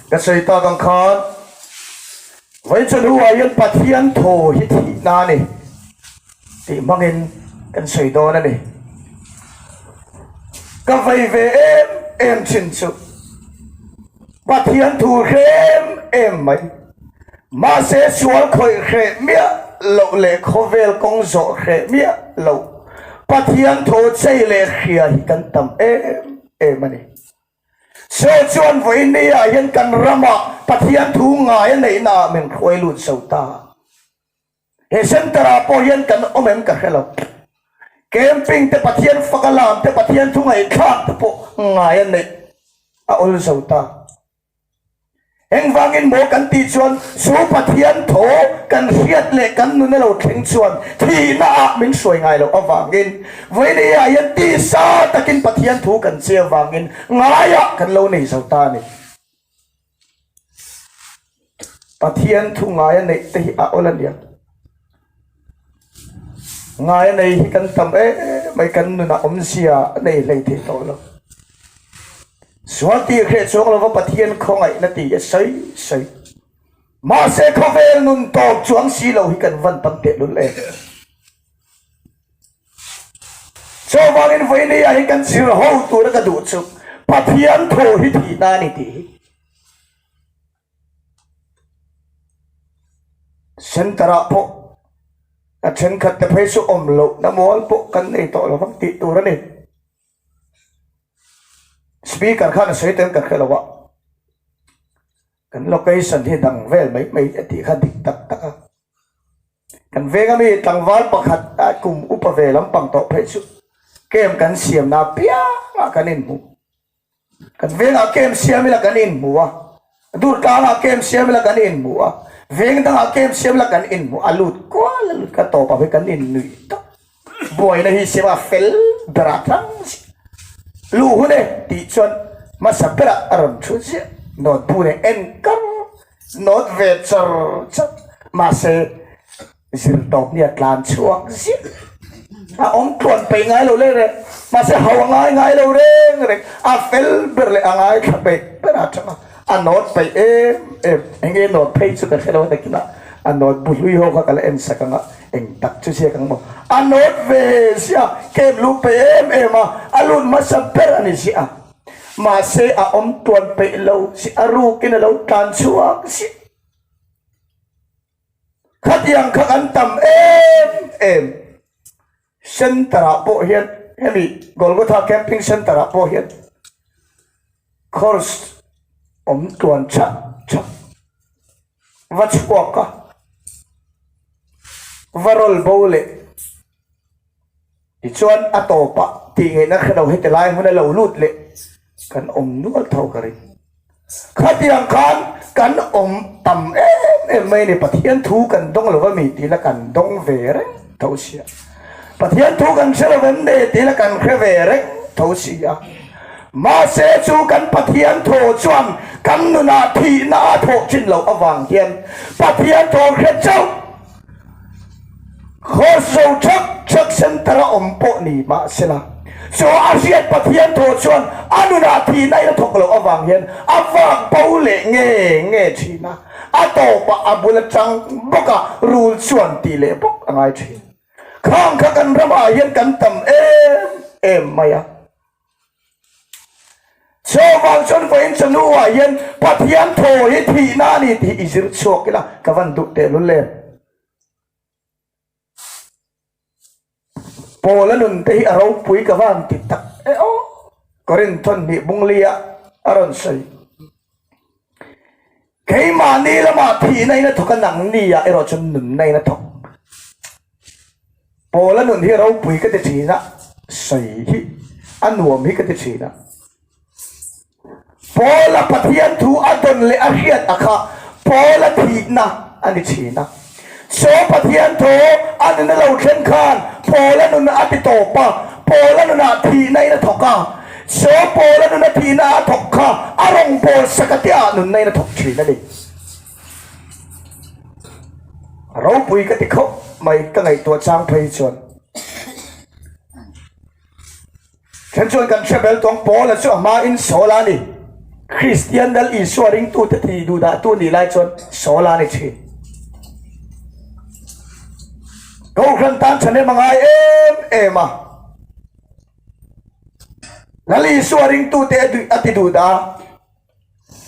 Ka sawi tak ang khan vei chu hnuah hian Pathian thaw hi thihna a ni tih hmangin kan sawi dawn a ni. Ka vei ve em em chin chu Pathian thu hrem em mai mahse sual khawih hreh miah loh leh khawvel kawng zawh hreh miah loh Pathian thaw chei leh hria hi kan tam em. Em a ni. Saw chuan vawiini ah hian kan ram ah Pathian thu ngai a neih naah min hruai lut so ta. He center ah pawh hian kan awm em ka hre lo. Camping te Pathian faka lam te Pathian thu ngaih thlak te pawh ngai a neih a awl zo ta. Engvangin maw kan tih chuan chu Pathian tho kan hriat leh kan nun a lo thleng chuan thihna ah min hruai ngai loh avangin vawileia hian tisa takin Pathian thu kan che avangin ngai ah kan lo nei zo ta a ni. Pathian thu ngai a neih te hi a awlh a nia. Ngai a nei hi kan tam em mai kan nunah awmzia a nei hlei thei tawh lo. Sual tir hreh chuang lova Pathian khawngaihna ti a sawi sawi. Mahse khawvel nun tawk chuang si lo hi kan van tam tehlul em. Chaw vangin vawineia hi kan zir ho tura ka duh chu Pathian thaw hi thihna a ni tih hi. Centre ah pawh a thenkhat te phei chu awm loh na mual pawh kan nei tawh lo vang tih tur a ni. Speaker khan a sawi te ang ka hre lo a, kan location hi dang vel mai mai a tih kha dik tak tak a. Kan veng ami tlangval pakhat a kum upa ve lampang tawh phei chu kem kan siam na piang ah kan inhmuh. Kan vengah kem siam ila kan inhmu a, dur tlangah kem siam ila kan inhmu a, veng dangah kem siam ila kan inhmu a lut kual a lut kha tawpah pawh kan innuih tak. Buaina hi siama fel berah tlang zia luh hun e tih chuan hmasa berah a rawn thu zia nawtbu nen enkar nawt ve char char mahse Zir tawp ni a tlan chhuak zim a awm tluan peih ngai lo leh reng mahse hau a ngai ngai lo reng reng a fel ber leh a ngai thla beih ber a chang a a nawt peih em em eng nge nawt phei chu ka hre lo nakin a a nawt bu hlui ho kha ka la en sak ang a eng tak chu ziak ang maw a nawt ve sia kem luh peih em em a a lut hmasa ber a ni zia mahse a awm tluan peih lo si a rukin a lo tlan chhuak zim. Khatiang kha kan tam em em. Centre ah pawh hian hemi Golgotha Camping Centre ah pawh hian course awm tuan chak chak va chhuak a, va rawl bo leh Tichuan a tawpa tih ngaihna kha lo hete lai hmuna lo lut leh kan awm nual tho ka ring. Khatiang khan kan awm tam em em mai ni, Pathian thu kan dawng lo va mi tihna kan dawng ve reng tho si a, Pathian thu kan hre lo vem de tihna kan hre ve reng tho si a, mahse chu kan Pathian thaw chuan kan nunah thihna a thawh chin loh avang hian Pathian thaw hre chauh. Khawso chak chak center a awm pawh ni mahsela, chu a hriat Pathian thaw chuan a nunah thihna i la thawk loh avang hian a vak bo leh nge nge thin a, a tawpah a bul atang bawka rul chuan tih leh bawk a ngai thin. Khang kha kan ramah hian kan tam em em mai a. Saw vang chuan va in chanu ah hian Pathian thaw hi thihna a ni tih i zir chhuak ila ka van duh teh lul em. Paula nun te hi a ropui ka van ti tak e aw. Corinthon hnih bunglia a rawn sawi. Keimah ni lamah thihna ina thawk a nang ni ah erawh chu nunna ina thawk Paul a nun hi ropui ka ti thin a sawi hi a nuam hi ka ti thin a Paul a Pathian thu a dawn leh a hriat a kha Paul a thihna a ni thin a. Saw Pathian thaw a nuna lo thlen khan Pawla nun a ti tawp a, Pawla nunah thihna in a thawk a. Saw Pawla nuna thihna a thawk kha a rawn pawl saka tiah nunna in a thawk thin a ni. Ropui ka ti khawp mai ka ngaihtuah chang phei chuan. Thlen chuan kan Hrabel tawng Paula chu a hma in Saula a ni. Kristian dal Isua ringtu te tih duh dah tu nih lai chuan Saula a ni thin. Kohhran tan thahnem a ngai em em a. Lal Isua ringtu te a ti duh dah a.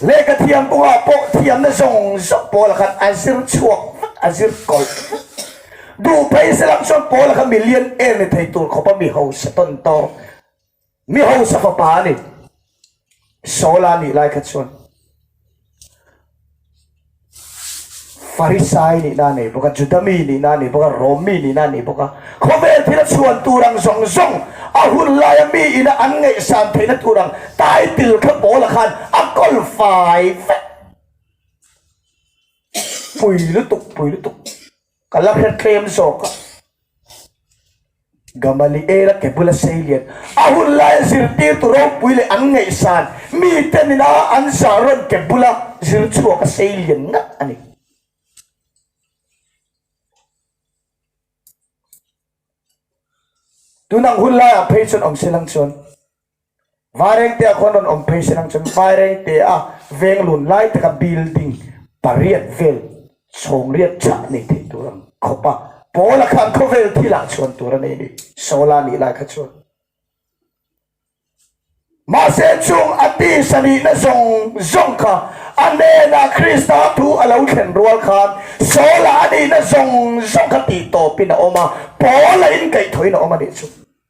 Lehkhathiam kawngah pawh thiamna zawng zawng pawl khan a zir chhuak vek, a zir kawlh vek. Duh phei se lam chuan pawl kha millionaire ni thei tur khawpa mi hausa tawn tawk, mi hausa fapa a ni. Sawla nih lai kha chuan. Farisai nihna a nei bawk a, Juda mi nihna a nei bawk a, Rom mi nihna a nei bawk a. Khawvel thil a chhuan tur ang zawng zawng a hun laia mi ina an ngaihsan theihna tur ang title kha pawl ah khan a kawl fai vek. Pui lutuk, pui lutuk. Ka la hre tlem zawk a. Gamaliela ke bula seilian a hun laia zirtirtu ropui leh an ngaihsan mite nina an zah rawn ke bula zirchhuak a seilian ngah a ni. Tun ang hun laiah phei chuan awmsilang chuan. Vairengte a khawn rawn awm phei se lang chuan Vairengte a veng lun lai taka building pariat vel chhawngriat tha a nei theih tur an khawp a, Paula kha an khawvel thil ah chhuan tur a nei ni Sola nih lai kha chuan. Mahse chung a tisa nihna zawng zawng kha a hnenah Krista thu a lo thlen rual khan Sola a nihna zawng zawng kha tih tawpin a awm a, Paula inkaihthawhin a awm a nih chu.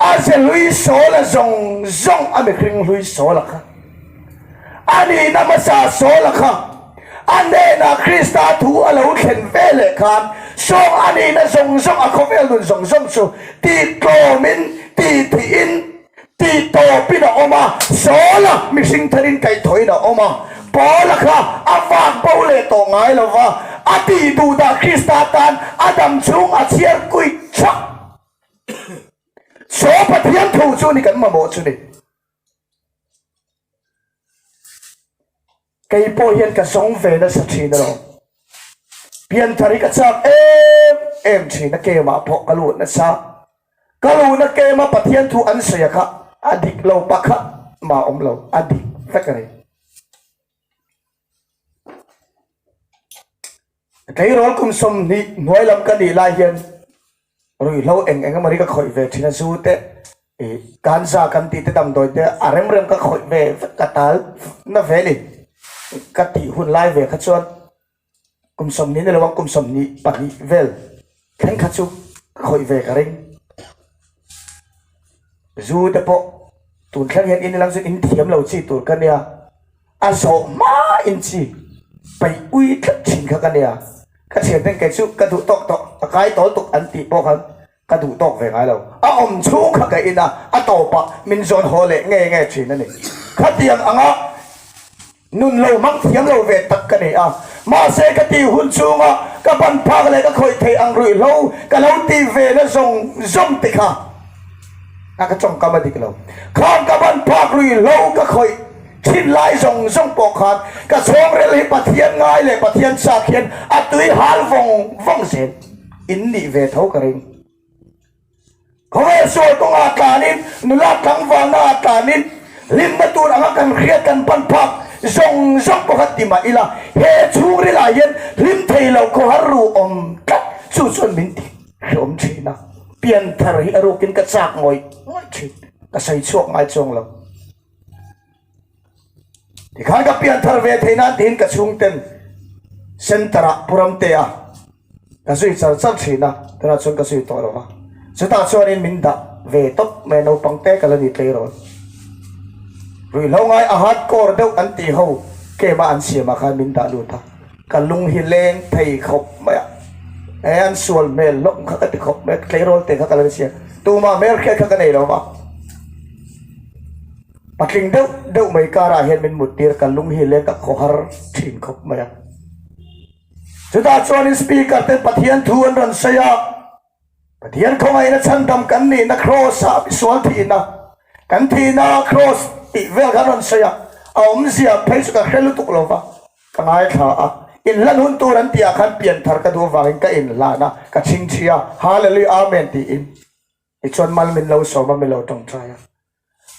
A ze hlui sawla zawng zawng a mi hring hlui sawla kha. A nihna hmasa sawla kha. A hnenah Krista thu a lo thlen ve leh khan sawng a nihna zawng zawng a khawvel nun zawng zawng chu tih tlawmin, tih thihin, tih tawpin a awm a, Saula mihring therin kaih thawiin a awm a, Paula kha a vak bo leh tawh ngai lo va, a tih duh dah Krista tan a dam chhung a chhiar kuih chhuak. Saw Pathian thu chu ni kan mamawh chu ni. Kei pawh hian ka zawng ve nasa thin alo. Pian thari ka chak em em thin a kem ah pawh ka luh nasa. Ka luh na kem a Pathian thu an sawi a kha a dik lo pakhat mah awm lo a dik vek a ni. Tleirawl kum sawm hnih hnuai lam ka nih lai hian ruihhlo eng eng emawni ka khawih ve thin a, zu te, kan za kan tih te damdawi te a rem rem ka khawih ve vek ka tal navh ve ni ka tih hun lai ve kha chuan kum sawm hnih ni lo ang kum sawm hnih pahnih vel. Thenkhat chu ka hawi ve ka ring. Zu te pawh tun thlang hian inilang chu in thiam lo chi tur ka nia. A zawh hmain chi paih ui tlat thin kha ka nia. Ka thian ten kei chu ka duh tawk tawh, a kai tawl tuk an tih pawh khan ka duh tawk ve ngai lo. A awm chhung kha ka ina a tawpah min zawn haw leh nge nge thin a ni. Khatiang anga. Nun lo mang thiam lo ve tak ka nei a, mahse ka tih hun chunga ka ban phak leh ka khawih theih ang ruih hlo ka lo ti ve na zawng zawng te kha a ka chawngkam a dik lo. Khang ka ban phak ruih hlo ka khawih thin lai zawng zawng pawh khan ka chhawngrel hi Pathian ngai leh Pathian chak hian a tui hal vawng vawng zel in nih ve tho ka ring. Khawvel sawi kawngah tlanin nula tlangvalna ah tlanin hlimna tur anga kan hriat kan pan phak zawng zawng pakhat ti mah ila he chhungril ah hian hlim thei lo khawhar ru awm tlat chu chuan min ti hlawm thin a, pianthar hi a rukin ka chak ngawih ngawih thin, ka sawi chhuak ngai chuang lo. Tikhan ka pian thar ve thei nan tiin ka chhungten center ah puram te a ka zui char char thin a, tunah chuan ka zui tawh lo va. Chutah chuanin min dah ve tawp mai naupang te ka la ni tlei rawn. Ruihhlo ngai a hardcore deuh an ti ho game a an siam ah khan min dah lut a, ka lung hi leng thei khawp mai a, he an sual hmel hlawm kha ka ti khawp mai a, tleirawl te kha ka la ni sia, tumah hmel hriat kha ka nei lo va. Patling deuh deuh mai karah hian min muttir ka lung hi leng ka khawhar thin khawp mai a. Chutah chuanin speaker ten Pathian thu an rawn sawi a, Pathian khawngaihna chhandam kan nihna Kraws ah misual thihna, kan thihna Kraws tih vel kha an rawn sawi a, a awmzia phei chu ka hre lutuk lo va, ka ngaithla a. Inhlan hun tur an tihah khan pian thar ka duh avangin ka inhlan a, ka chhingchhi a, Hallelujah, Amen tiin. Tichuan mal min lo sawm a, min lo tawngtai a.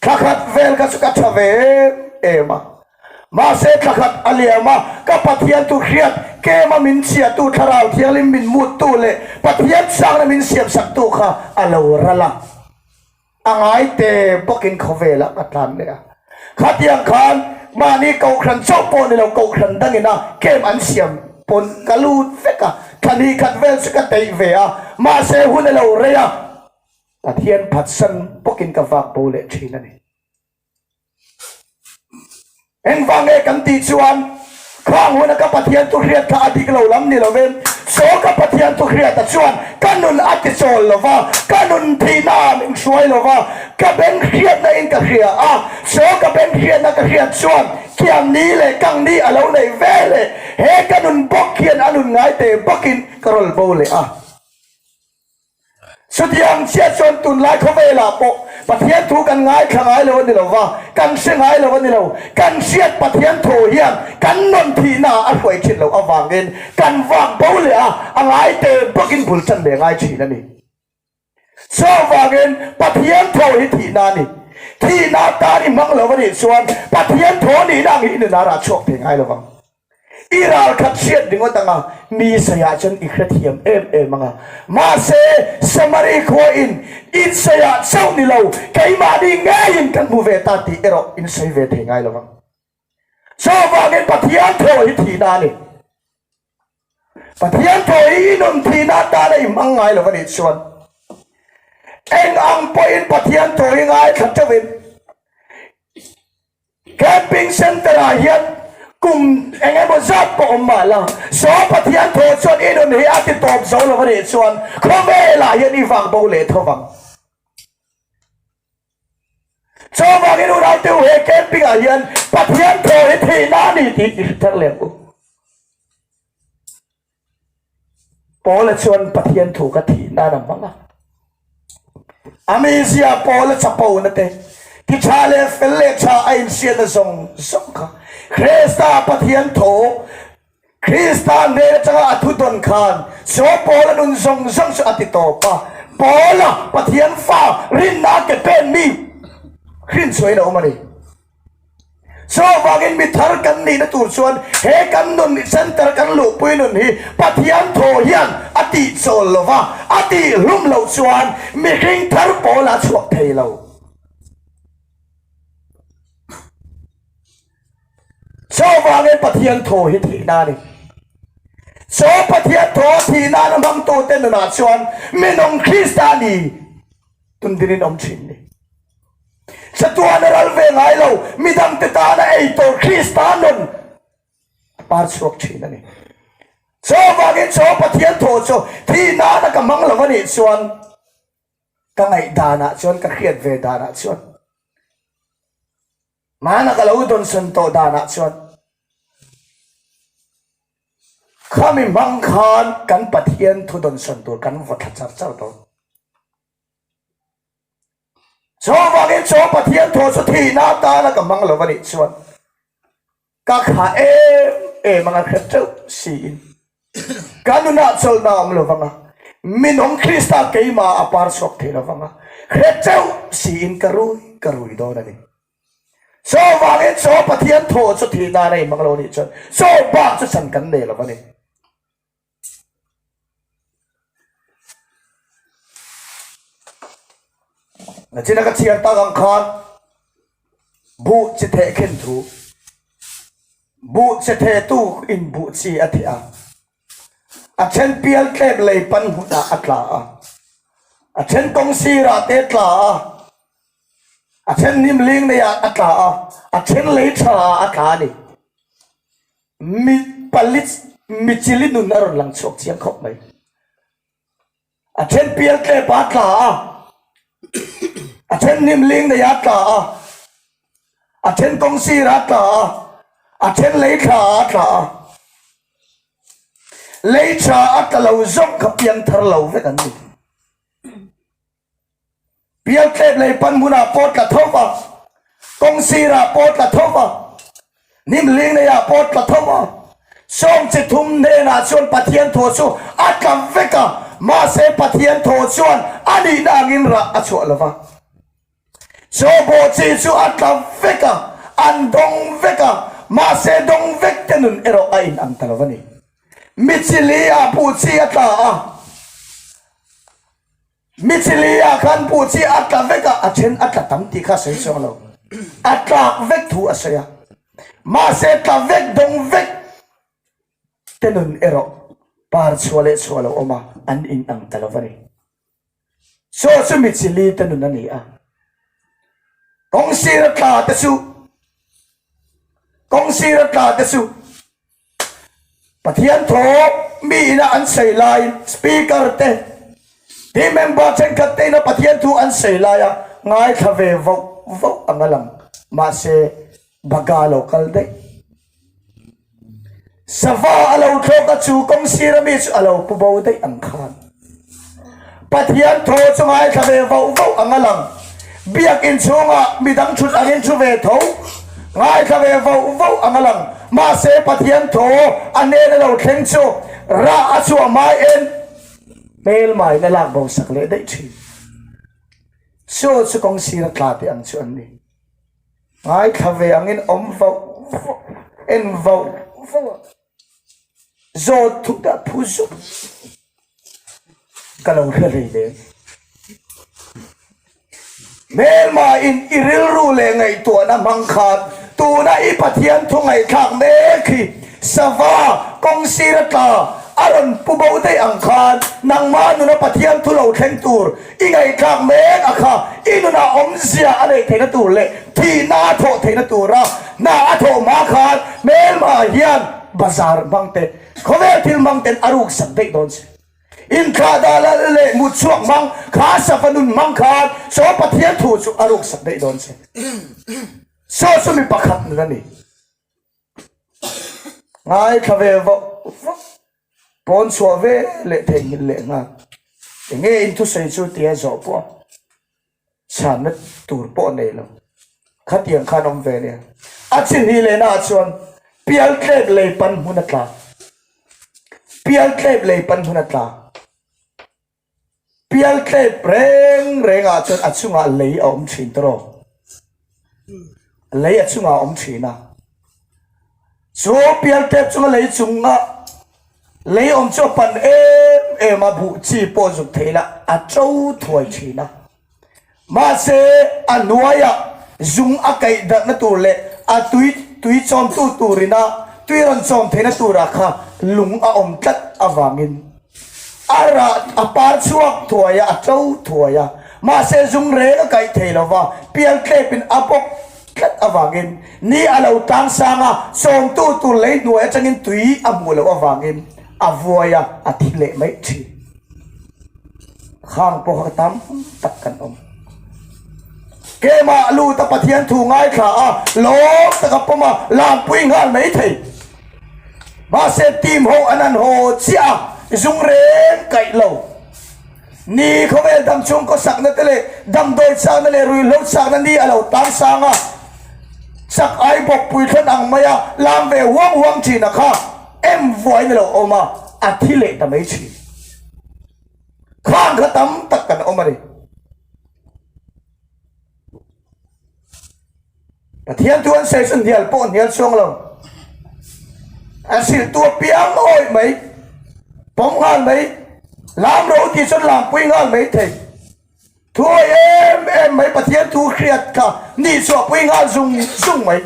Thla khat vel kha chu ka tha ve em em a, mahse thla khat a liam a, ka Pathian tu hriat kem a min chhiahtu Thlarau Thianghlim min muttu leh Pathian changna min siamsaktu kha a lo ral a, a ngaite bawkin khawvelah ka tlan leh a. Khatiang khan mahni kohhran chauh pawh ni lo kohhran dangin a kem an siam pawn ka lut vek a, thla hnih khat vel chu ka teih ve a, mahse hun a lo rei a. Pathian phatsan bawkin ka vak bo leh thin a ni. Engvange kan tih chuan khang huna ka Pathian thuhriat kha a dik lo lam ni lo em? Saw ka Pathian thuhriata chuan ka nun a ti chawl lo va, ka nun thihna a min hruai lo va, ka beng hriatna in ka hria a. Saw ka beng hriatna ka hriat chuan kiam ni leh kang ni a lo nei ve hle. He ka nun bawk hian a nun ngai te bawkin ka rawl bo leh a. Chutiang chiah chuan tunlai khawvelah pawh Pathian thu kan ngaithla ngai lo a ni lo va, kan hre ngai lo a ni lo. Kan hriat Pathian thaw hian kan nawn thihnaah a hruai thin loh avangin kan vak bo leh a, a ngaite bawkin bul chan leh ngai thin a ni. Chuvangin, Pathian thaw hi thihna a ni. Thihna atan i hmang lo a nih chuan Pathian thaw nihna ang hi i nunarah a chhuak thei ngai lo vang. I ralkhat hriat ringawt anga mi seiah chuan i hrethiam em em anga. Mahse, Samari khua in, In seiah chauh ni lo, keimahni ngeiin kan hmu ve ta tih erawh in sawi ve thei ngai lovang. Chuvangin Pathian thaw hi thihna a ni. Pathian thaw hi i nun thihna atana i hmang ngai lo a nih chuan, eng ang pawhin Pathian thaw hi ngaithla teuhin Camping Centre ah hian kum eng emaw zat pawh awm mah la, Saw Pathian thaw chuan i nun hi a ti tawp zo lo va nih chuan khawvel ah hian i vak bo leh tho vang. Chuvang i nun autte u he camping ah hian Pathian thaw hi thihna a ni tih i hre thar lem u. Paula chuan Pathian thu ka thih nan a hmang a. Ami zia Paula chapo nate, ti tha leh fel leh tha a inhriat na zawng zawng kha Krista Pathian thu, Krista hnen atanga a thudawn khan chaw pawl a nun zawng zawng chu a ti tawp a. Paula Pathian fa rinna ke penmi hrinchhuain a awm a ni. Saw vangin mi thar kan nihna tur chuan he kan nun center kan luhpui nun hi Pathian thaw hian a tihchawl lo va, a tih hlum lo chuan mihring thar pawl a chhuak thei lo. Saw vangin Pathian thaw hi thih na ni. Saw Pathian thaw a thih nana hmang tu te nunah chuan minung Krista ni tun dingin awm thin ni. Chatuana ral ve ngai lo mi dangte tana eitur Krista nun a par chhuak thin a ni. Chaw vangin chaw Pathian thaw chu thi nana ka hmang lo a nih chuan ka ngaih danah chuan ka hriat ve danah chuan nana ka lo dawnsawn tawh danah chuan kha mi hmang khan kan Pathian thu dawnsawn tur kan va thla char char dawn. Chuvangin chuan Pathian thu chu thihna atana ka hmang lo a nih chuan ka kha em em anga hre teuh siin ka nunah chawlhna a awm lo vang a, minawm Krista keima a par chhuak thei lo vang a, hre teuh siin ka rui ka rui dawn a ni. Chuvangin chuan Pathian thu chu thihna an ei hmang lo a nih chuan chubak chu chan kan nei lo a ni. A china ka chhiar tak ang khan buh che theh khen thu buh che theh tu in buh chi a theh a a then pial tlem lei pan hmun ah a tla a a then kong sir ah te tla a a then hnim ling nei ah a tla a a then lei tha ah a tla a ni Mi pali mi chili nun a rawn lang chhuak chiang khawp mai. A then pial tlep a tla a, a then hnim ling nei a tla a, a then kawng sir a tla a, a then lei thla a tla a. Lei tha a tla lo zawk kha piang thar lo vek an ni. Bial tlet lei pan hmunah pawh tla tho va, kawng sirah pawh tla tho va, hnim hling neiah pawh tla tho va, sawm chi thum hnenah chuan Pathian thaw chu a tlam vek a, mahse Pathian thaw chuan a nihna angin rah a chhuah lo va. Sawhbaw chi chu a tlam vek a, an dawng vek a, mahse dawng vek te nun erawh a inang ta lo va ni. Mi chi li ah buh chi a tla a. Mi chilliah khan pu chi a tla vek a, a then a tla tam tih kha a sawi chuang lo. A tlak vek thu a sawi a. Mahse tla vek dawng vek te nun erawh par chhuah leh chhuah lo awm a, an in ang ta lo a ni. Chaw chu mi chilli te nun a ni a. Kawng sira tla te chu, kawng sira tla te chu. Pathian thawh mi ina an sawi laiin speaker te hi member thenkhat te ina Pathian thu an sawi laia ngaithla ve vauh vauh anga lang. Mahse baga lo kal daih. Sava a lo thlawk a chu kawng sira mi chu a lo pu bo daih ang khan. Pathian tho chu ngaithla ve vauh vauh ang a lang. Biakin chhungah mi dang thut angin thu ve tho, ngaithla ve vauh vauh ang a lang. Mahse Pathian tho a hnena lo thleng chu ra a chhuah mai en hmelmaiin a lak bosak leh daih thin. Chaw chu kawng sira tla teh ang chu an ni. Ngaithla ve angin awm vauh vauh, en vauh vauh ang. Zawl thup dah phu zuk ka lo hre hlei le. Hmel mah in i rilru leh ngaihtuahna hmang khan tuna i Pathian thawngaihthlak mek hi sava kawng sira tla a rawn pu bo daih ang khan nangmah nuna Pathian thu lo thleng tur I ngaihthlak mek a kha i nunah awmzia a neih theihna tur leh thihna a thawh theihna tura hna a thawh hma khan hmelmah hian bazar hmangte, khawvel thil hmangten a ruksak daih dawn si. Inthlah dah lal leh mutchhuak hmang, kha sava nun hmang khan saw Pathian thu chu a ruksak daih dawn si. Saw chu mi pakhat nun a ni. ngai thla ve vauh vauh pawn chhuah ve leh thei nghilh leh nghal enge in thusawi chu tia zawh pawh a chhianna tur pawh nei lo khatiang khan awm ve nia a chi hnih leh naah chuan pial tlep lei pan hmuna tla pial tlep lei pan hmuna tla. Pial tlaip reng rengah chuan a chungah lei a awm thin tawh rawh. Lei a chungah a awm thin a. Chu pial tlaip chunga lei chunga lei awm chu a pan em em a, buh chi pawh zuk theih lah a to thuai thin a. Mahse, a hnuaia zung a kaih darhna tur leh a tui tui chawmtu turin a tui rawn chawm theihna turah kha lung a awm tlat avangin a rah a par chhuak thuai a, a to thuai a. Mahse, zung reng a kaih thei lova pial tlepin a bawk tlat avangin ni a lo tlang sang a, chawmtu tur lei hnuai atangin tui a hmuh loh avangin a vuai a, a thi leh mai thin. Khang pawh a tam tak kan awm. Kema lut a Pathian thu ngai thla a lawm tak a pawm a, lampuii nghal mai thei. Mahse team ho an han haw chiah a, zung reng kaih lo. Ni khawvel dam chhung kaw sakna te leh damdawi chakna leh rui hlo chakna ni a lo tam sang a, chak ai bawk puithlawn ang mai a, lam ve huang huang thin a kha. Em vuai na lo awm a, a thi leh ta mai thin. Khang kha tam tak kan awm a ni. Pathian tu an sei chu hnial pawh hnial chuang lo. A siltu a piang awih mai, pawm nghal mai, lam ro tih chuan lam pui nghal mai thei. Thuawih em em mai Pathian tu Hriat kha ni chu a pui nghal zung zung mai.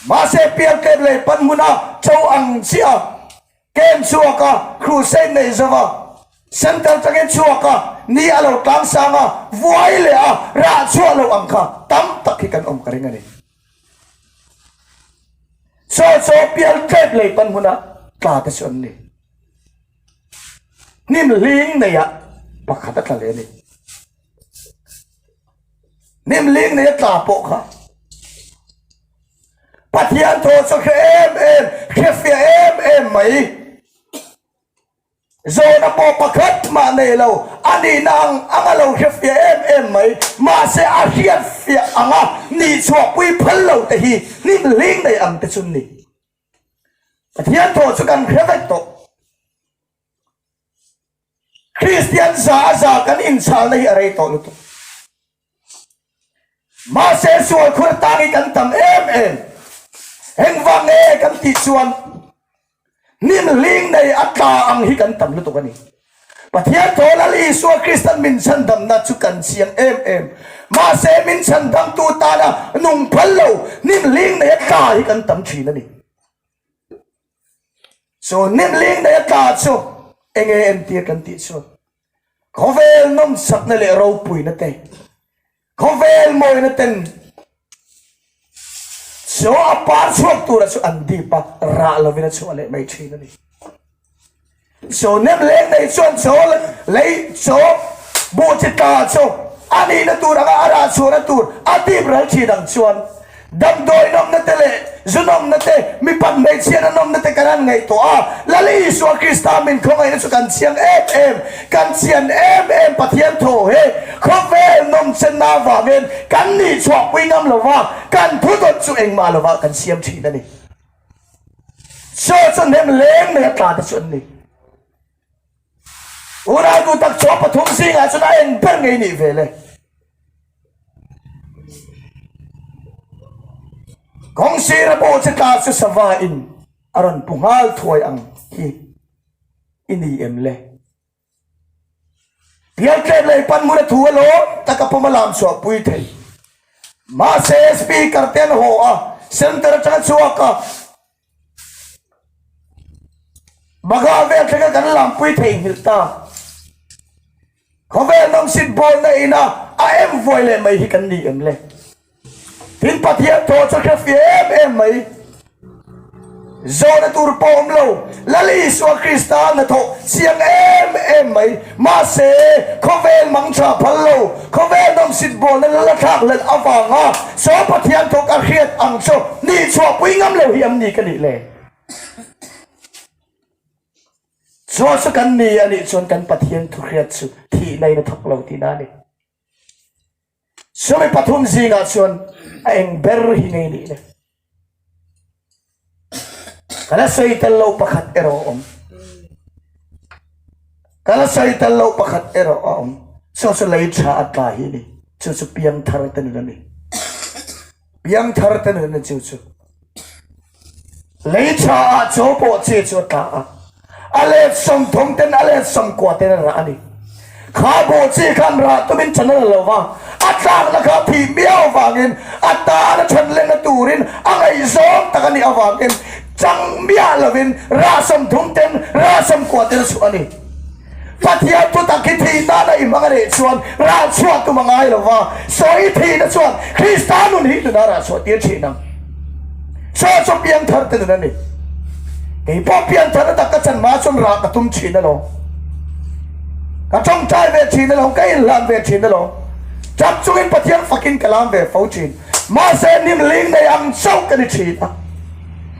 Mahse, piang tlep leh pan hmuna cho ang chiah a, ken chhuak a, Crusade neih zo a, Centre changin chhuak a, ni a lo tlang sang a, vuai leh a, rah chhuah loh ang kha tam tak hi kan awm ka ring a ni. Chaw chaw piang tlep lei pan hmuna tla te chu an ni. Hnim hling neih a pakhat a tla leh a ni. Hnim ling nei a tla pawh kha Pathian thaw chu hre em em, hrefia em em mai. Zawna pawh pakhat mah nei lo, a nihna ang anga lo hrefia em em mai. Mahse a hriatfia anga nihchhuahpui phal lo te hi hnim ling nei ang te chu ni. Pathian thaw chu kan hre vek tawh. Kristian za a za kan inchhal na hi a rei tawh lutuk. Mahse sual khur tang hi kan tam em em. Engvang nge kan tih chuan hnim hling nei a tla ang hi kan tam lutuk a ni. Pathian Thaw Lal Isua Krista min chhandamna chu kan chiang em em. Mahse min chhandamtu tana nung phal lo hnim hling nei a tla hi kan tam thin a ni. Chuan Nemling neih a tla chu eng nge en tir kan tih chuan khawvel nawmchakna leh ropuina te khawvel mawina ten chaw a par chhuak tura chu an dip a, rah lovin a chhuah leh mai thin a ni. Chaw nem leng nei chuan chaw lei chaw buh chi ta chaw a nihna tur anga a rah chhuahna tur a dip ral thin ang chuan damdawi nawmna te leh zu nawmna te, mi pan hmeichhiana nawmna te kan han ngaih tawh a. Lali Isua Krista min khawngaihna chu kan chiang em em, kan chian em em Pathian thaw hi khawvel nawmchenna avangin kan nih chhuahpui ngam lova kan thu dawt chu engmah lovah kan siam thin a ni. Church a hnem leng mai a tla te chu an ni. Ural bu tak chua pathum zingah chuan a en ber ngei nih ve le. Kawng sira bu chi tla chu sava in a rawn pu nghal thuai ang hi i ni em le. Pial tlet lei panmura thu a lawm taka pawm a lam chhuah pui thei. Mahse speaker te an haw a, center atang a chhuak a. Baga vel taka kan lam pui thei nghilh ta. Khawvel mamsit bawlna ina a em vuai leh mai hi kan nih em le? Hin Pathian thaw chu hre fi em em mai. Zawhna tur pawh awm lo, Lal Isua Krista a hnathawh chiang em em mai. Mahse, khawvel mang tha phal lo, khawvel nawm sit bualna la la thlak let avanga Saw Pathian thawk a hriat ang chu nih chhuahpui ngam lo hi an ni ka nih le. Chhuah chu kan ni a nih chuan kan Pathian thuhriat chu thihna in a thawk lo tina a ni. Chumi pathum zingah chuan a eng ber hi ngei nih le. Ka la sawi tel lo pakhat erawh a awm. Ka la sawi tel lo pakhat erawh a awm. Chu chu lei tha a tlai hi ni. Chu chu piang thar te ni lo ni. biang thar te nun a chu chu lei chha ah chaw pawh che chu a tla a a let sawm thawm ten a let sawm kuah ten a rah a ni kha bawh che khan rah tumin chhan a la lo va a tlakna kha thih miau vangin a tan a chhan lenna turin a ngaihzawng tak a nih avangin chang miah lovin rah sawm thum ten rah sawm kuah ten a chhuah a ni. Pathian thutak hi thih nan a inhmang a nih chuan ralchhuah tum a ngai lo va, saw i thihna chuan Krista nun hi nunah ralchhuah tir thin ang. Saw chu piangtharte nun a ni. Kei pawh piangthar na tak ka chan hma chuan ral ka tum thin alawm, ka tawngtai ve thin alawm, ka inhlan ve thin alawm, chap chungin Pathian fakin ka lam ve fo thin. Mahse nimling nei ang chauh ka ni thin a.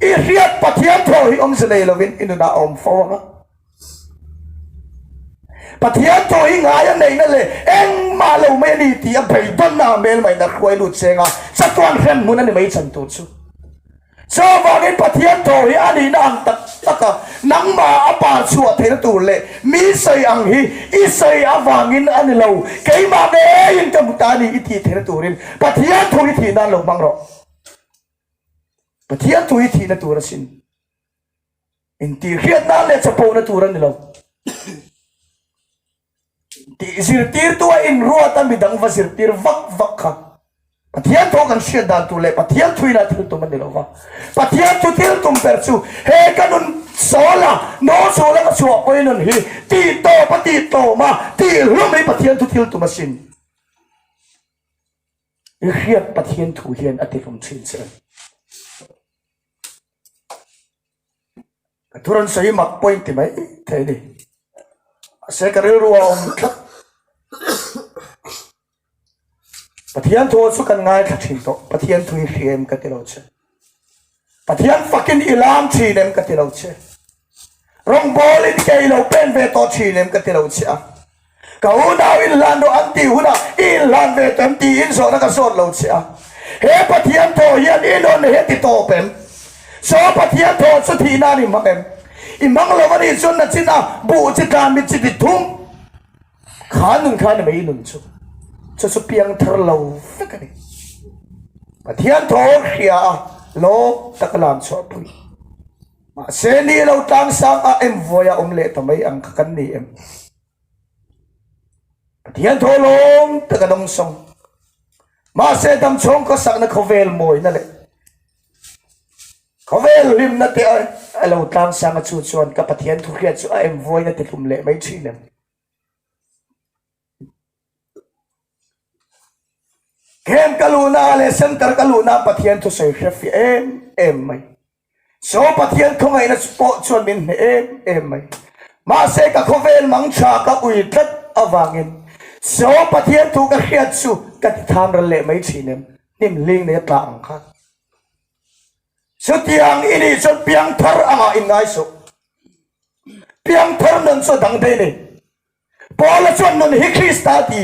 I hriat Pathian thawh hi awmze nei lovin i nunah a awm fo ang a. Pathian thawh hi ngai a neihna leh engmah lo mai a ni tih a beidonnak a hmelmaihnat hruai lut chenga chatuan hrenhmun a ni mai chan tur chu. Chu vangin Pathian thawh hi a nihna ang tak taka nangmah a par chhuah theihna tur leh mi sawi ang hi i sawi avangin a ni lo, keimah ngeiin ka hmu ta a ni i tih theihna turin Pathian thu hi thih nan lo hmang rawh. Pathian thu hi thihna tur asin. Intihriatna leh chapona tur a ni lo. Tih zirtirtua in ruat a midang va zirtir vak vak kha Pathian thu kan hriat dan tur leh Pathian thu ina thil tum a ni lo va. Pathian thu thil tum ber chu he ka nun sawl a, no zul a ka chhuah pawhin nun hi tih tawp a tih tawm a tih hlum hi Pathian thu thil tum asin. I hriat Pathian thu hian a tihlawm thin che ang. Ka thu rawn sawi mak point ti mai thei ni. Ase ka rilru a awm tlat. Pathian thu chu kan ngai thla thin tawh. Pathian thu hi hri em ka ti lo che. Pathian fakin i lam thin em ka ti lo che. Rawngbawl in kei lo pen ve tawh thin em ka ti lo che a. Ka unau in hlan rawh an tih hunah i inhlan ve tawh em tiin zawhna ka zawt lo che a. He Pathian thaw hian i nawn leh hi a ti tawp em? Saw Pathian thaw chu thih nan i hmang em? I hmang lo a nih chuan na chin a buh chi tlan mi chi ti thung. Kha nun kha ni mai i nun chu chu chu piang thar lo vek a ni. Pathian thawr hria a lawm taka lam chhuahpui. Mahse ni lo tlang sang a em vuai a awm leh ta mai ang kha kan ni em? Pathian thawr lawm taka nawm sawng. Mahse dam chhawng khawsakna khawvel mawina leh khawvel hlimna te a lo tlang sang a chu chuan ka Pathian thu hria chu a em vuaina ti hlum leh mai thin em? Khem ka luhna leh center ka luhna Pathian thusawi hre fiah em em mai. Saw Pathian khawngaihna chu pawh chuan min hne em em mai. Mahse ka khawvel mang tha ka ui tlat avangin Saw Pathian thu ka hriat chu ka ti tham ral leh mai thin em? Hnim hling neia tla ang khan. Chutiang i nih chuan piang thar a ngah in ngai suh. Piang thar nun chu a dang daih nei. Paula chuan nun hi Krista a ti.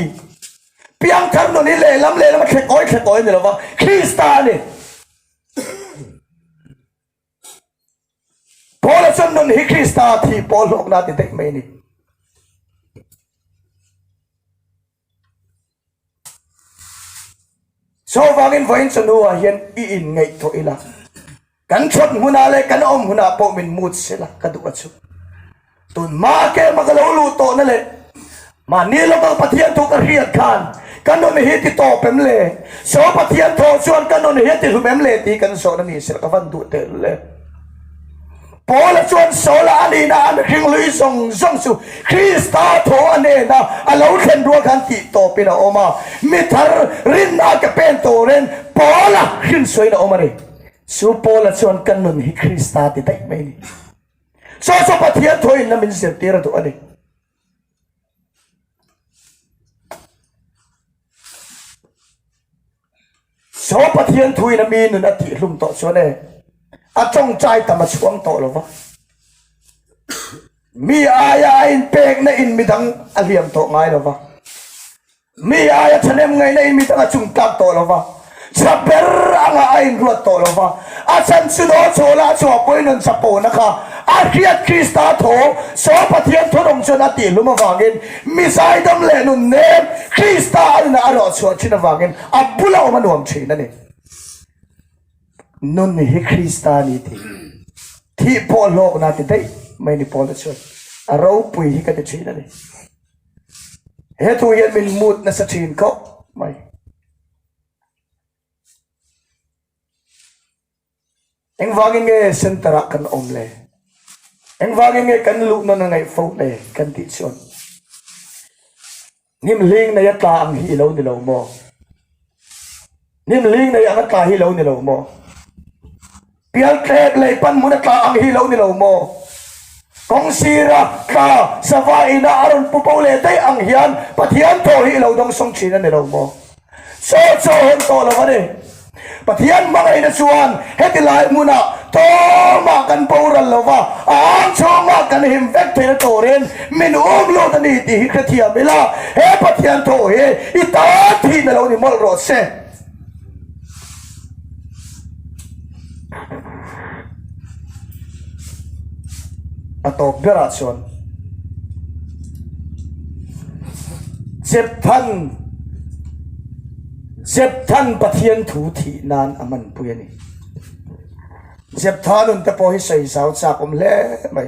Piang thar nun hi lehlam lehlam a thlek awi thlek awi a ni lo va, Krista a ni. Paula chuan nun hi Krista a thi, Paul hlawkna a ti daih mai a ni. Chuvangin vawiin chu nuah hian i inngaihtuah ila, kan chhawt hmunah leh kan awm hunah pawh min mut sela ka duh a chhuh. Tunhma a kem a ka lo luh tawhna leh mahni lawkah Pathian thu ka hriat khan ka nun hi ti tawp em le? Saw Pathian thawh chuan ka nun hi a ti hlum em le tih kan zawhna ni sela ka van duh tehlul e. Paula chuan Saula a nihna a mihring lui zawng zawng chu Krista thaw a nena a lo thlen rual khan tih tawpin a awm a. Mi thar rinna a ke pen turin Paula hrinsawiin a awm a ni. Chu Paula chuan ka nun hi Krista ti daih mai a ni. Chu chu Pathian thaw inna min zirtir a duh a ni. Saw Pathian thuin a mi nun a tih hlum tawh chuan e, a tawngtai tam a chhuang tawh lo va. Mi aia a inpekna in midang a hliam tawh ngai lo va. Mi aia thalem ngaina in mit anga chung tak tawh lova, chhia ber anga a inruat tawh lova, a chhan chu daw chawla chua pawi nun chha pawna kha a hriat Krista tho saw Pathian thawdawm chuan a tihhlum avangin mizai dam leh nun nem Krista a nunah a rawhchhuah thin avangin a bula awm a nuam thin a ni. Nun hi Krista a ni tih thih pawh hlawkna ti daih mai ni pawla chuan a ropui hi ka ti thin a ni. He thu hian min mut nasa thin khawp mai. Engvangin nge center ah kan awm le? Engvangin nge kan luhnawn a ngaih fo le kan tih chuan hnim hling neia tla ang hi i lo ni lo maw? Hnim ling nei ang a tla hi lo ni lo maw? Pial tlep lei pan mun a tla ang hi lo ni lo maw? Kawng sira, tla, sava ina a rawn pu pawh leh daih ang hian Pathian thaw hi i lo dawng sawng thin a ni lo maw? Chaw chaw hawn tawh lo a ni. Pathian hmangaihna chuan heti lai hmuna tlawmah kan boral lova, a ang chhungah kan him vek theih na turin, Min awm lawt a ni tih hi hrethiam ila, he Pathian tho hi i tan thih na lo ni mawlh rawh se. A tawp berah chuan Jephthan, Jephthan Pathian thu thih nan a hmanpui a ni. Jephthanun te pawh hi sawi zau chak awm hle mai.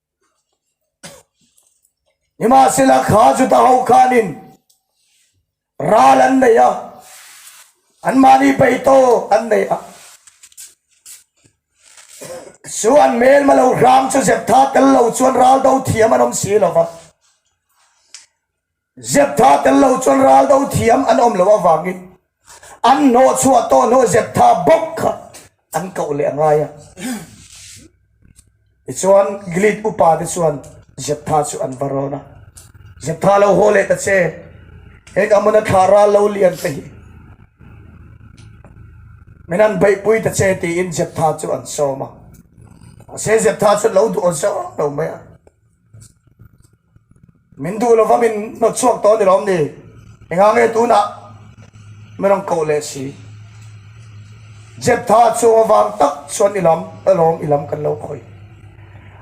Nimahsela kha chuta ho khanin ral an nei a, anmahni bei tawk an nei a. Chu an hmelma lo hram chu zep tha tel lo chuan ral do thiam an awm si lo va. Zep tha tel lo chuan ral do thiam an awm loh avangin an hnawh chhuah tawh hnawh zep tha bawk kha an koh leh a ngai a. Tichuan Gilead upa te chuan zep tha chu an va rawn a, Zep tha lo haw leh ta che, heng Ammona thla ral lo lian te hi min han beihpui ta che tiin zep tha chu an sawm a. Mahse zep tha chu an lo duh zawk lo mai a. Min duh lova min hnawt chhuak tawh a ni lawm ni? Enga nge tunah min rawn koh leh si? Jeptha chu avang tak chuan i lam a lawm i lam kan lo khawih.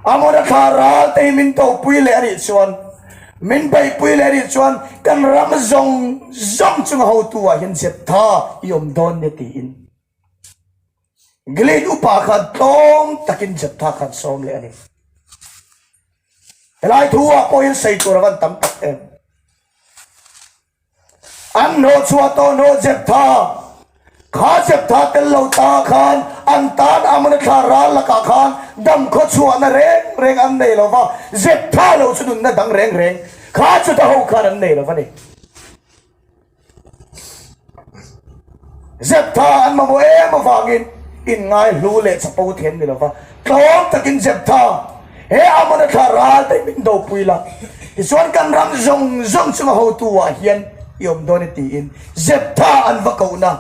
Amona kha ralte hi min topui leh a nih chuan, min beihpui leh a nih chuan kan ram zawng zawng chunga hotuah hian Jeptha i awm dawn nia tiin. Glen upa khan tlawm takin Jephthah khan sawm leh a ni. Helai thu-ah pawhin sawitur a van tam tak em? An hnaw chhuah tawh hnaw Jephthah. Kha Jephthah tel lo ta khan an tan Ammona thla ral lakah khan dam khawchhuahna reng reng an nei lo va, Jephthah lo chu nunna dang reng reng kha chuta ho khan an nei lo va ni. Zep tha an mamawh em avangin inngai hlu leh chapa u thiam ni lo va. Tlawm takin Zep tha he Amona thla ral daih min do pui la. Tichuan kan ram zawng zawng chunga hotu ah hian i awm dawn i tiin Zep tha an va kohna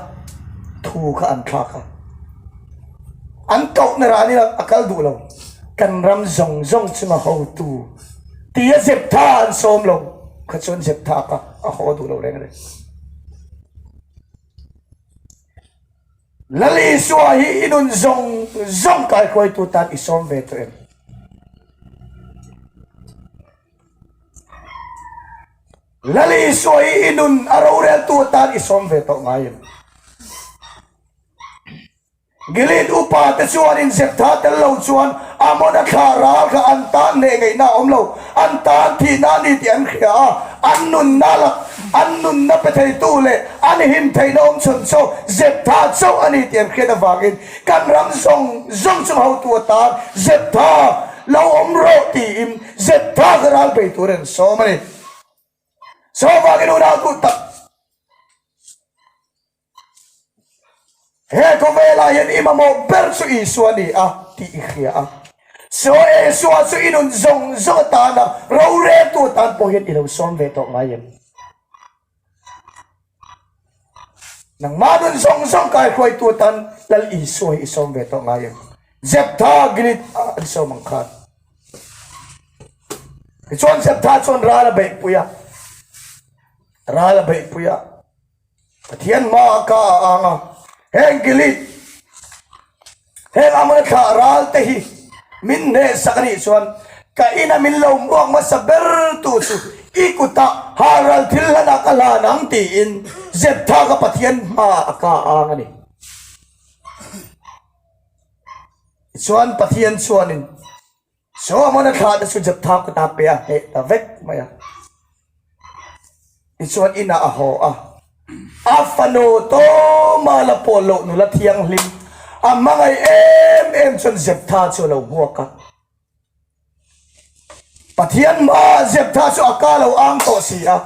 thu kha an thlak a. An kohna ralin a kal duh lo. Kan ram zawng zawng chunga hotu. Pi a zep tha a an sawm lo kha chuan zep tha kha a haw duh lo reng reng. Lal Isua hi i nun zawng zawng kaihruaitu tan i sawm ve tawh em? Lal Isua hi i nun a roreltu tan i sawm ve tawh ngai em? Gilead upa te chuan inzep tha tel lo chuan Ammona thla ral kha an tan leh ngeihna a awm lo, an tan thihna a ni tih an hria a, an nunna a lak, an nunna pe theitu leh an him theihna a awm chhawn chu zep tha chauh a ni tih an hriat avangin kan ram zawng zawng chung hotu atan zep tha lo awm rawh tiin zep tha kha ral pe tur an sawm a ni. Jehova'n i nunau duhtak. He khawvelah hian i mamawh ber chu Isua a ni a tih i hria a. Saw Isua chu i nun zawng zawng atan a, roreltu atan pawh hian i lo sawm ve tawh ngai em? Nangmah nun zawng zawng kaihruaitu atan Lal Isua hi i sawm ve tawh ngai em? Jephtha, Gilead a an sawm ang khan. Tichuan Jephtha chuan ral a beihpui a, ral a beihpui a, Pathian hma a ka a ang a. Heng Gilead heng Ammona thla ral te hi min hneh sak a nih chuan ka ina min lo muak hmasa ber tu chu i kuta har ral thil hlanah ka hlan ang tiin Jephthah kha Pathian hma a ka a ang a ni. Tichuan Pathian chuanin. Saw man a thla te chu zep thak ka ta pia heh ta vek mai a. Tichuan inah a haw a. A fanu Tawma la pawl loh nula thianghlim a hmangaih em em chuan zep tha chu a lo buak a. Pathian hmaa zep tha chu a ka lo ang tawh si a.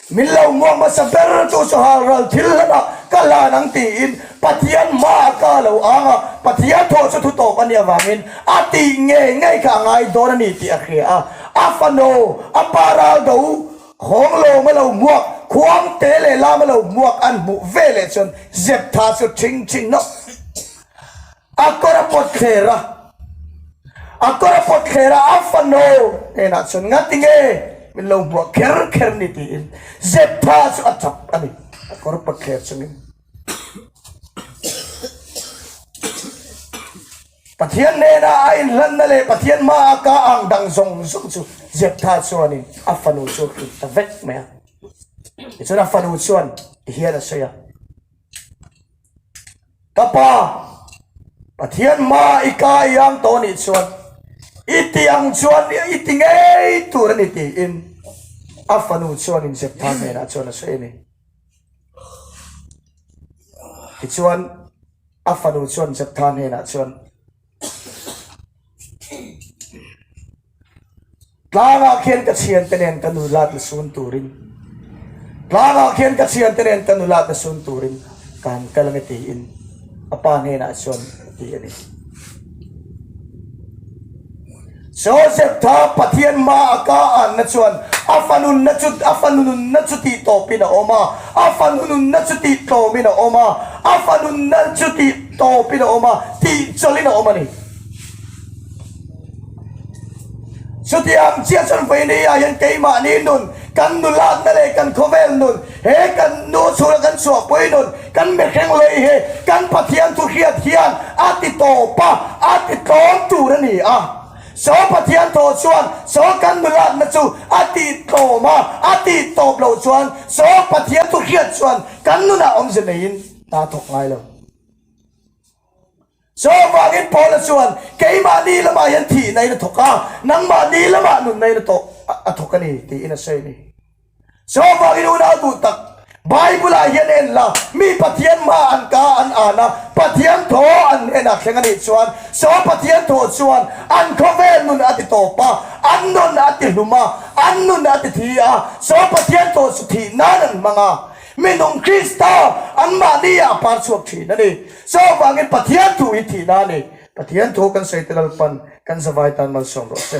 Min lo muang hmasa ber chu sawhal ral thil hlana ka hlan ang tiin Pathian hmaa ka lo ang a, Pathian thawh chu thutawp a nih avangin a tih ngei ngei kha a ngai dawn a ni tih a hria a. A fano, a pa ral do, Khawnglawm a lo muak, Khuangte leh Lam a lo muak an hmuh veleh chuan zep tha chu ching ching nawh. A kawra pawt thler a, a kawra pawt thler a, a fano nenah chuan nga tinge min lo hmuh a kher kher ni tiin zep pha chu a chap a ni a kawr pawt thler chungin. Pathian hnena a inhlanna leh Pathian hma a ka ang dang zawng zawng chu zep pha chuanin a fanu chu a hrilh ta vek mai a. Tichuan a fanu chuan ti hian a sawi a. Ka pa, Pathian hma i ka i ang tawh nih chuan i ti ang chuan i ti ngei tur a ni tiin a fanu chuan in Jephtha hnenah chuan a sawi a ni. Tichuan a fanu chuan Jephtha hnenah chuan, Tlangah khian ka chhian te nen ka nula te sun turin Tlangah khian ka chhian te nen ka nula te sun turin kan kal nge tiin apa hne na chuan ti ani Joseph kha Pathian hma a ka anna chuan a fa nunna chu a fa nunna chu tih tawpin a awm a, a fa nunna chu tih tlawmin a awm a, a fa nunna chu tih tawpin a awm a, tih chawlhin a awm a ni. Chutiang chiah chuan vei neiah hian keimahni nun, kan nulakna leh kan khawvel nun, He kan nu chhunga kan chhuah pawinawn kan mihreng lei hi kan Pathian thuhriat hian a ti tawp a, a ti tlawm tur a ni a. Saw Pathian thaw chuan saw kan nulakna chu a ti tlawm a, a ti tawp lo chuan saw Pathian thuhriat chuan kan nunah awmze neiin aa thawk ngai lo. Saw avangin Paula chuan, Keimah ni lamah hian thih na ina thawk a, nangmah ni lamah nun na ina tawk a thawk a ni, tiin a sawi a ni. Saw avangin unau duh tak, Bible-ah hian a en la, mi Pathian hma an ka an an a, Pathian thaw an hnenah thleng a nih chuan, saw Pathian thaw chuan an khawvel nun a ti tawp a, an nun a ti hlum a, an nun a ti thi a, saw Pathian thaw chu thih nan an hmang a, minung Krista anmahni a par chhuak thin a ni. Saw vangin Pathian thu in thih na ani. Pathian thu kan sawi te lalpan kan za vai tan malsawm rawh se.